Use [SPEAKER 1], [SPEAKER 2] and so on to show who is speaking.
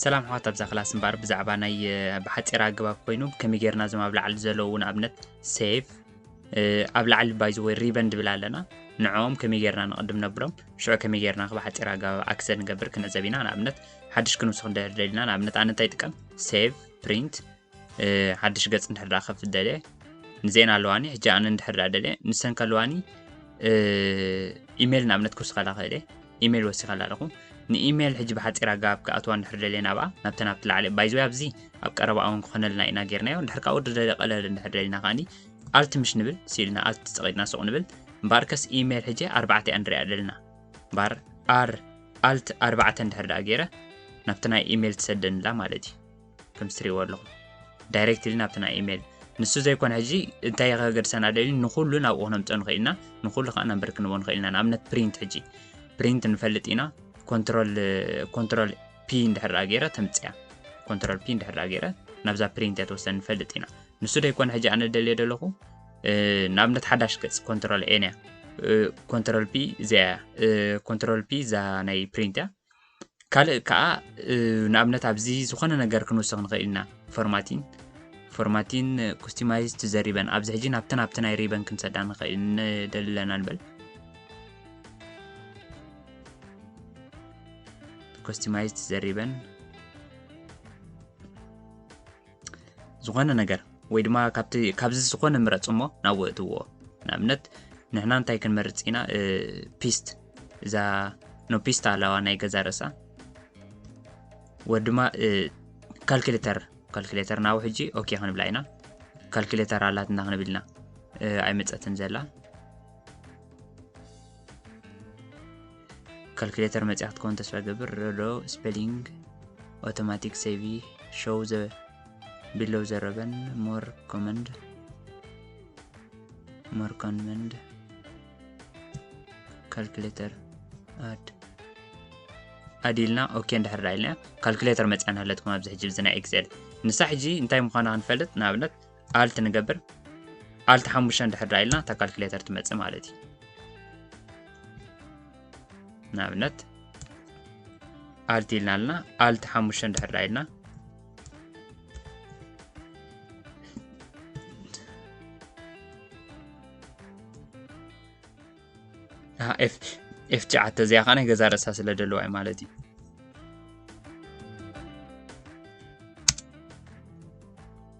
[SPEAKER 1] ሰላም ኣሕዋት ኣብዛ ክላስ እምበኣር ብዛዕባ ናይ ብሓፂር ኣገባብ ኮይኑ ከመይ ጌርና እዞም ኣብ ላዕሊ ዘለዉ ንኣብነት ሴቭ ኣብ ላዕሊ ባይዘ ወይ ሪበን ድብል ኣለና ንዕኦም ከመይ ጌርና ንቕድም ነብሎም ሽዑ ከመይ ጌርና ብሓፂር ኣገባብ ኣክሰን ንገብር ክንዕዘብ ኢና ንኣብነት ሓድሽ ክንውስኽ እንደደሊና ንኣብነት ኣነ እንታይ ጥቀም ሴቭ ፕሪንት ሓድሽ ገጽ እንድሕር ከፍት ደልየ ንዜና ኣለዋኒ ሕጂ ኣነ እንድሕር ደልየ ንሰን ከለዋኒ ኢሜይል ንኣብነት ክውስኸላ ክእል እየ ኢሜይል ወሲኸላ ኣለኹ ንኢሜይል ሕጂ ብሓፂር ኣገባብ ክኣትዋ እንድሕር ደልየ ናብኣ ናብተ ናብቲ ላዕሊ ባይዘወ ኣብዚ ኣብ ቀረባ እውን ክኾነልና ኢና ጌርናዮ እንድሕር ካብኡ ደለ ቀለል እንድሕር ደሊና ከዓኒ ኣልቲ ምሽ ንብል ስኢልና ኣልቲ ፀቒጥና ሱቕ ንብል እምበኣር ከስ ኢሜይል ሕጂ ኣርባዕተ እያ ንሪኣ ደልና እምበኣር ኣር ኣልት ኣርባዕተ እንድሕር ደኣ ገይረ ናብቲ ናይ ኢሜይል ትሰደንላ ማለት እዩ ከምቲ ትሪእዎ ኣለኹም ዳይሬክትሊ ናብቲ ናይ ኢሜይል ንሱ ዘይኮነ ሕጂ እንታይ ከገድሰና ደልዩ ንኩሉ ናብኡ ክነምፅኦ ንኽእል ኢና ንኩሉ ከዓ ናምበር ክንቦ ንኽእል ኢና ንኣብነት ፕሪንት ሕጂ ፕሪንት ንፈልጥ ኢና ኮንትሮል ኮንትሮል ፒ እንድሕር ደኣ ገይረ ተምፅያ ኮንትሮል ፒ እንድሕር ደኣ ገይረ ናብዛ ፕሪንት እያ ተወሰኒ ንፈልጥ ኢና ንሱ ደይኮነ ሕጂ ኣነ ደልየ ደለኹ ንኣብነት ሓዳሽ ገፅ ኮንትሮል ኤን እያ ኮንትሮል ፒ እዚኣ እያ ኮንትሮል ፒ እዛ ናይ ፕሪንት እያ ካልእ ከኣ ንኣብነት ኣብዚ ዝኾነ ነገር ክንውስኽ ንኽእል ኢና ፎርማቲን ፎርማቲን ኩስቲማይዝ ቱ ዘ ሪበን ኣብዚ ሕጂ ናብቲ ናብቲ ናይ ሪበን ክንሰዳ ንኽእል ንደሊ ኣለና ንበል ኩስቲማይዝ ቱ ዘ ሪበን ዝኾነ ነገር ወይ ድማ ካብቲ ካብዚ ዝኾነ ምረፅ እሞ ናብ ወእትዎ ንኣብነት ንሕና እንታይ ክንመርፅ ኢና ፒስት እዛ ኖ ፒስት ኣለዋ ናይ ገዛ ርእሳ ወድማ ካልኩሌተር ካልኩሌተር ናብ ሕጂ ኦኬ ክንብላ ኢና ካልኩሌተር ኣላትና ክንብል ኢና ኣይመፀትን ዘላ ካልኩሌተር መጽያ ክትከውን ተስፋ ይገብር። ሮዶ ስፔሊንግ ኦቶማቲክ ሴቪ ሾው ዘ ቢሎው ዘ ረበን ሞር ኮመንድ ሞር ኮመንድ ካልኩሌተር ኣድ ኣድ ኢልና ኦኬ እንድሕር ዳ ኢልና ካልኩሌተር መጽያና ኣለትኩም ኣብዚ ሕጂ እዚ ናይ ኤክሴል ንሳ ሕጂ እንታይ ምዃና ክንፈልጥ ንኣብነት ኣልት ንገብር ኣልት ሓሙሽተ እንድሕር ኢልና እታ ካልኩሌተር ትመፅእ ማለት እዩ ንኣብነት ኣልት ኢልና ኣለና ኣልት ሓሙሽተ እንድሕር ኢልና ኤፍ ሸዓተ እዚኣ ከዓ ናይ ገዛ ርእሳ ስለ ደለዋ እዩ ማለት እዩ